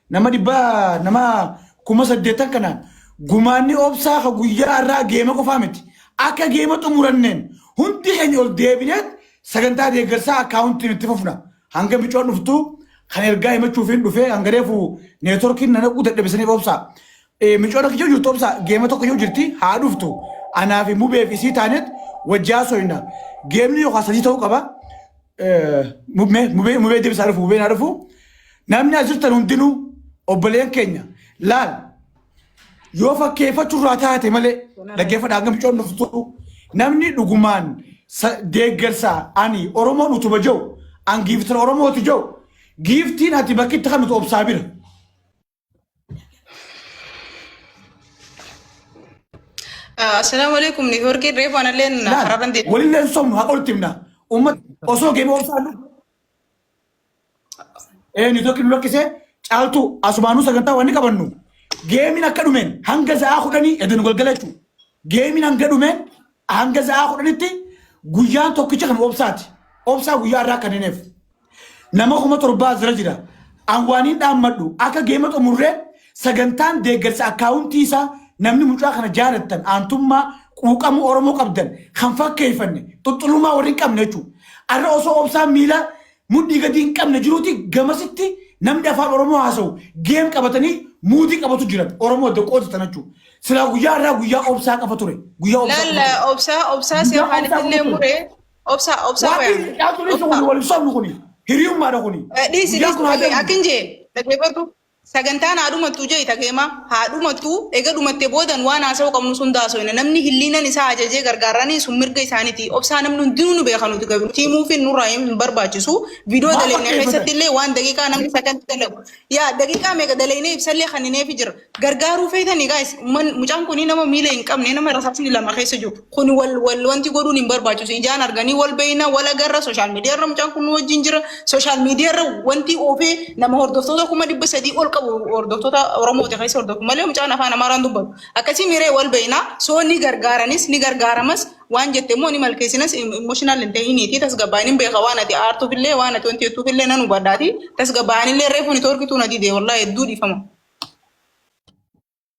nama dhibbaa nama kuma saddeettan kanaan gumaanni obsaa ka guyyaa irraa geema qofaa miti. Akka geema xumuranneen hundi keenya ol deebineet sagantaa deeggarsaa akkaawuntiin itti fufna. Hanga micoon dhuftu kan ergaa himachuufiin dhufee hanga reefu neetworkiin na naquu dadhabisaniif obsaa. Eh, Micoon akka jiru YouTube isaa geema tokko yoo jirti haa dhuftu. Anaa fi mubee fi isii taanet wajji haasoyna. Geemni yookaan sadii ta'uu qaba. Eh, Mubee mubee mubee deebisaa dhufu mubeen haa dhufu. Namni as jirtan hundinuu obboleen keenya laal yoo fakkeeffachuu irraa taate malee dhaggeeffadha hanga micoon dhuftu namni dhugumaan sa- deeggarsa ani Oromoon utuba jiru an giiftan Oromooti jiru giiftiin ati bakkitti kan nuti obsaa bira. Assalaamu alaikum ni horgee reefu anallee na hararan deema. Walillee hin sobnu haqa walitti himna. Uummata osoo geemee obsaan dhufu. Ee ni tokki nu lakkisee caaltuu asumaanuu sagantaa waan ni qabannu. Geemiin akka dhumeen hanga sa'aa kudhanii edda nu galgala jechuudha. Geemiin hanga dhumeen Hanga sa'aa kudhanitti guyyaan tokkicha kan obsaati. Obsaa guyyaa irraa kennineef. Nama kuma torbaa asirra jira. An waaniin dhaammadhu akka geema xumurree sagantaan deeggarsa akkaawuntii isaa namni mucaa kana jaalattan aantummaa quuqama Oromoo qabdan kan fakkeeffanne xuxxulummaa warri hin qabne jechuudha. Arra osoo obsaan miila Mudhii gadii hin qabne jiruuti gamasitti namni afaan oromoo haasawu geem qabatanii muutii qabatu jiran oromoo adda qooti tanachu silaa guyyaa irraa guyyaa obsaa qafa ture guyyaa obsaa Laal qafa ture. obsaa obsaa si Guyyaa afaan obsaa illee qabu ture. muree obsaa obsaa Waaqni wayaan. dhiyaatu dhiisa kuni wal hin sobnu kuni hiriyummaadha kuni Dhiisi guyyaan kun haa dhiisi darbu. akkin jee dhaggeeffadhu Sagantaan haa dhumattuu je'i takeema haa dhumattu ega dhumatte boodan waan haasawu qabnus hunda haasoyna namni hilliinan isaa ajajee gargaarrani sun mirga isaaniti obsaa namni hundinuu nu beeka nuti garu nuti himuufin nurraa hin barbaachisu video daleyne keessattillee waan daqiiqaa namni second dalagu yaa daqiiqaa meeqa daleynee ibsallee kannineefi jirra gargaaruu feetani guys umman mucaan kuni nama miila hin qabne nama rasaasni lama keessa jiru Kun wal wal wanti godhuun hin barbaachisu. Ijaan arganii wal beeyna wal agarra sooshaal miidiyaa irra mucaan kun nu wajjin jira. Sooshaal miidiyaa irra wanti oofee nama hordoftoota kuma dhibba sadii ol qabu hordoftoota Oromoota keessa hordofu malee mucaan afaan Amaaraan dubbatu. Akkasii miiree wal beeyna soo ni gargaaranis ni gargaaramas waan jette immoo ni malkeessinas emotional hin ta'iniiti tasgabbaa'in hin beeka waan ati aartuuf illee waan ati wanti jettuuf illee nan hubadhaati tasgabbaa'in illee reefu ni torkituu na didee wallaahi hedduu dhiifama.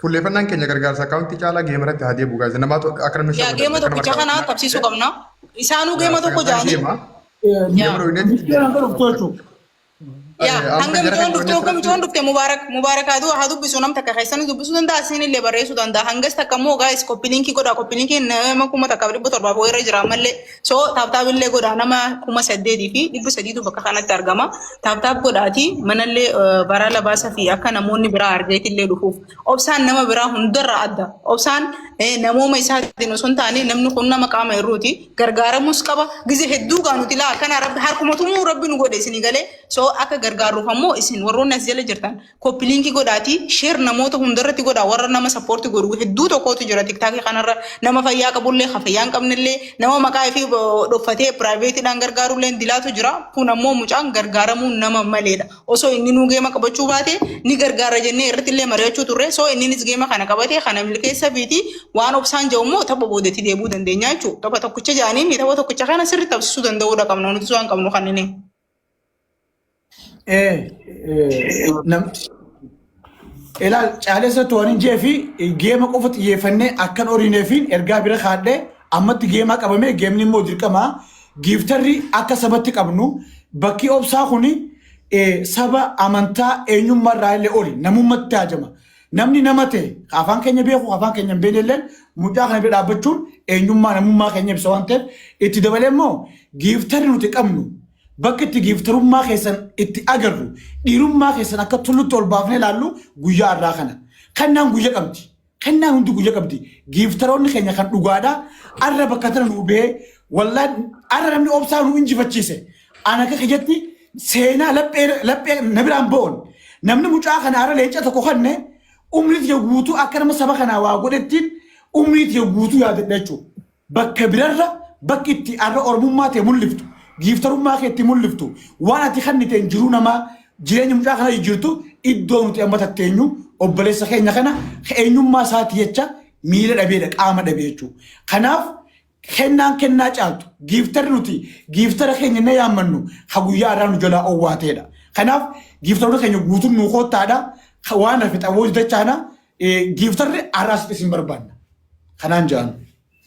Fuulleeffannaan keenya gargaarsa akkaawuntii caalaa geema irratti haa deebi'u gaazexaa namaa to- akka namni Yaa geema tokkicha kana qabsiisuu qabna. Isaanuu geema tokko jaanii. Geema dhooyneetti itti Michoon hanga dhuftu jechuudha. Yaa Amma hanga jara mijoon kan dhufte hogga dhooyneetti mijoon dhufte mubaarak mubaarak haa du- haa dubbisu nam takka keessan dubbisuu danda'a isin illee barreessuu danda'a hangas takka immoo gaa'is koppiliinkii godha koppiliinkiin nama kuma takka dhibba torbaaf wayirra jira ammallee So taaptaap illee godhaa nama kuma saddeetii fi dhibba sadiitu bakka kanatti argama. Taaptaap godhaati manallee baraa labaasa fi akka namoonni biraa argeeti illee dhufuuf. Obsaan nama biraa hundarraa adda. Obsaan namooma isaatiin osoo hin taane namni kun nama qaama irruuti. Gargaaramus qaba. Gizee hedduu gaa nuti laa akkana rabbi harkuma tumuu rabbi nu godhe isinii galee. So akka gargaarruuf ammoo isin warroonni as jala jirtan Koppi liinki godhaati sheer namoota hundarratti godhaa warra nama sappoorti godhu hedduu tokkootu jira tiktaakii kanarra nama fayyaa qabullee ka fayyaa hin qabnellee nama maqaa ifii dhoffatee piraayiveetiidhaan gargaarullee dilaatu jira kun ammoo mucaan gargaaramuun nama maleedha osoo inni nuu geema qabachuu baate ni gargaara jennee irratti illee mari'achuu turre soo inninis geema kana qabate kana milkeessa fiiti waan obsaan ja'u immoo tapha boodatti deebuu dandeenya jechuudha tapha tokkicha ja'anii tapha tokkicha kana sirri taphsisuu danda'uudha qabna nuti waan qabnu kanneen. Eh, eh, nam, ilaal caalessa to'anii jee fi geema qofa xiyyeeffannee akkan horiinee fi ergaa bira kaadhee ammatti geemaa qabamee geemni immoo dirqama giiftarri akka sabatti qabnu bakki obsaa kun saba amantaa eenyummaa irraa illee oli namummaatti haajama. Namni nama ta'e ka afaan keenya beeku ka afaan keenya hin beekne illeen mucaa kana bira dhaabbachuun eenyummaa namummaa keenya ibsa waan ta'eef itti dabalee immoo giiftarri nuti qabnu bakka itti giiftarummaa keessan itti agarru dhiirummaa keessan akka tullutti ol baafnee ilaallu guyyaa har'aa kana. Kannaan guyya qabdi. Kannaan hundi guyya qabdi. Giiftaroonni keenya kan dhugaadhaa arra bakka tana nu bahee wallaan arra namni obsaa nu injifachiise. An akka kiyyatti seenaa laphee laphee na biraan bo'oon namni mucaa kanaara leenca tokko kanne umrii tiyya guutuu akka nama saba kanaa waa godhettiin umrii tiyya guutuu yaadadha jechuudha. Bakka birarra bakki itti arra oromummaa ta'e mul'iftu giiftarummaa kee itti mul'iftu waan ati kanniteen jiruu namaa jireenya mucaa kana jijjiirtu iddoo nuti amma tatteenyu obboleessa keenya kana eenyummaa isaati jecha miila dhabeedha qaama dhabee jechuudha. Kanaaf Kennaan kennaa caaltu, giiftarri nuti giiftara keenya jennee yaammannu ka guyyaa arraa nu jalaa owwaateedha. Kanaaf giiftaroota keenya guutuun nuu koottaadha. Ka waan hafe xabooji dachaana. Eh, Giiftarri arraa asitti isin barbaanna. Kanaan ja'an.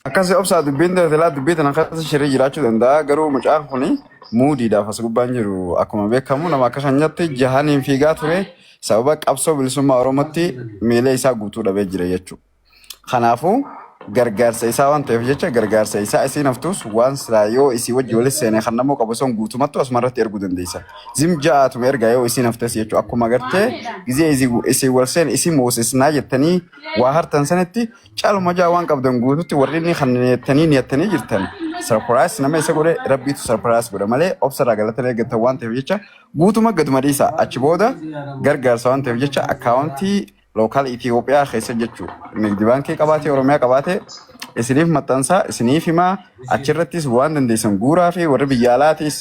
Akkasi obsaa dubbiin ta'e silaa dubbii tana keessa shirri jiraachuu danda'a garuu mucaan kun muudiidhaaf as gubbaan jiru akkuma beekamu nama akka keenyatti jahaniin fiigaa ture sababa qabsoo bilisummaa oromootti miila isaa guutuu dhabee jira jechuudha. Kanaafuu gargaarsa isaa waan ta'eef jecha gargaarsa isaa isiin haftuus waan silaa yoo isii wajji walis seene kan namoo qabu son guutumattu asuma irratti ergu dandeessa. Zim ja'aatuma ergaa yoo isiin haftes jechuu akkuma gartee gizee izi- isin wal seen isin moosisnaa jettanii waa hartan sanitti caluma ja'a waan qabdan guututti warri inni kan niyattanii niyattanii jirtan sarpiraayis nama isa godhe rabbiitu sarpiraayis godha malee obsa irraa galatan eeggatan waan ta'eef jecha guutuma gaduma dhiisa achi booda gargaarsa waan ta'eef jecha akkaawuntii local Ethiopia keessa jechuu nigdi baankii qabaatee Oromiyaa qabaatee isiniif maxxansaa isiniif himaa achirrattis waan dandeessan guuraa fi warri biyya alaatiis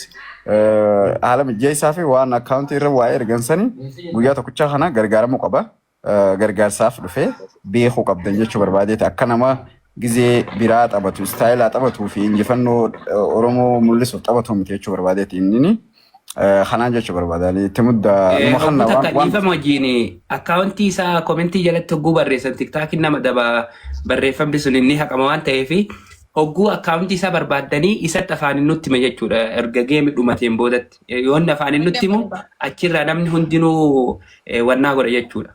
eh, haala mijeessaa fi waan akkaawuntii irra waa ergansanii guyyaa tokkichaa kana gargaaramuu qaba Eh, gargaarsaaf dhufee beekuu qabdan jechuu barbaadeeti akka nama gizee biraa taphatu istaayilaa taphatuu fi injifannoo eh, Oromoo mul'isuuf taphatu miti jechuu barbaadeeti inni. Kanaan jechuu barbaada. Ani itti mudda Eh, numa kanna Hogguu waan takka waan dhiifama wajjin akkaawuntii isaa komentii jalatti hogguu barreessan tiktaakiin nama daba barreeffamni sun inni haqama waan ta'eef hogguu akkaawuntii isaa barbaaddanii isatti afaaniin nutti hima jechuudha erga geemi dhumateen boodatti Eh, yoo inni afaaniin nutti himu achirraa namni hundinuu eh, wannaa godha jechuudha.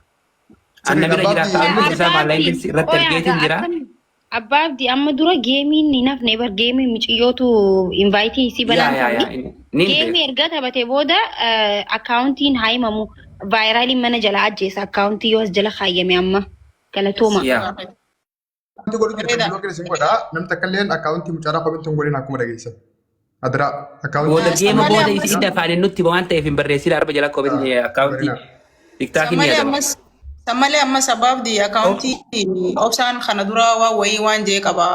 Anna Sirriidha bira jira baabbii. akkaawuntiin isaa maallaa Abbaabbii, ingilisi irratti qoyaa ergeetiin gaa jira. akkam Abbaa abdi amma dura geemiin hin hafne bar geemii miciyyootu invaayitii isii Yaa banaan yaa turre. yaa in- niin Geemii beeka. erga taphate booda akkaawuntiin haa himamu. Vaayiraaliin mana jala ajjeesa akkaawuntii yoo as jala kaayyame amma. Galatooma. Yaa. Akkaawuntii godhu keessan Bareeda. biloo keessan godhaa. Namni takka illee akkaawuntii mucaaraa komentii hin godhin akkuma dhageessan. Adiraa akkaawuntii. Booda Yes, deema malee booda ammas- isin afaan hin nutti waan ta'eef hin barreessin arba jala koo bitni akkaawuntii Barinaa. tiktaakii ni Sammalee yaadama. ammas Sammalee ammas abbaabdi akaawuntii obsaan kana dura waan wayii waan jee qaba.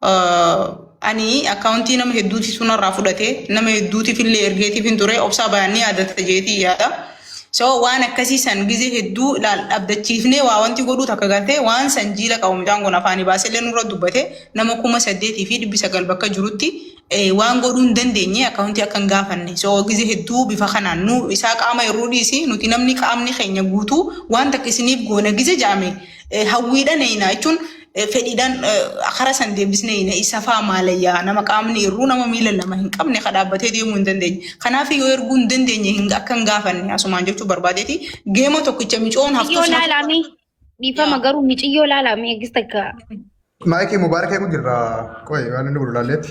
Ah, Ani akaawuntii nama hedduuti sunarraa fudhate nama hedduutiif illee ergeetiif hin ture obsaa baay'ee ni yaadata jeetii yaada. So waan akkasii san gizee hedduu ilaal dhabdachiifnee waa wanti godhuu takka galtee waan san jiila qabu mucaan kun afaanii baasellee nurra dubbate nama kuma saddeetii fi dhibbi sagal bakka jirutti eh, waan godhuu hin dandeenye akkaawuntii akka hin gaafanne so gizee hedduu bifa kanaan nu isaa qaama irruu dhiisi nuti namni qaamni keenya guutuu waan takka isiniif goona gizee ja'ame eh, hawwiidhan eeyna jechuun fedhiidhaan karaa san deebisnee hiina isa faa maalayyaa nama qaamni irruu nama miila lama hin qabne ka dhaabbatee deemuu hin dandeenye. Kanaaf yoo erguu hin dandeenye hin akka hin gaafanne asumaan jechuu barbaadeeti geema tokkicha micoon haftuu Miciyyoo sana laalaa mee dhiifama garuu miciyyoo laalaa mee eegis takka. Maayikii mubaarakee kun jirra. Qoy waan inni godhu laalleetti.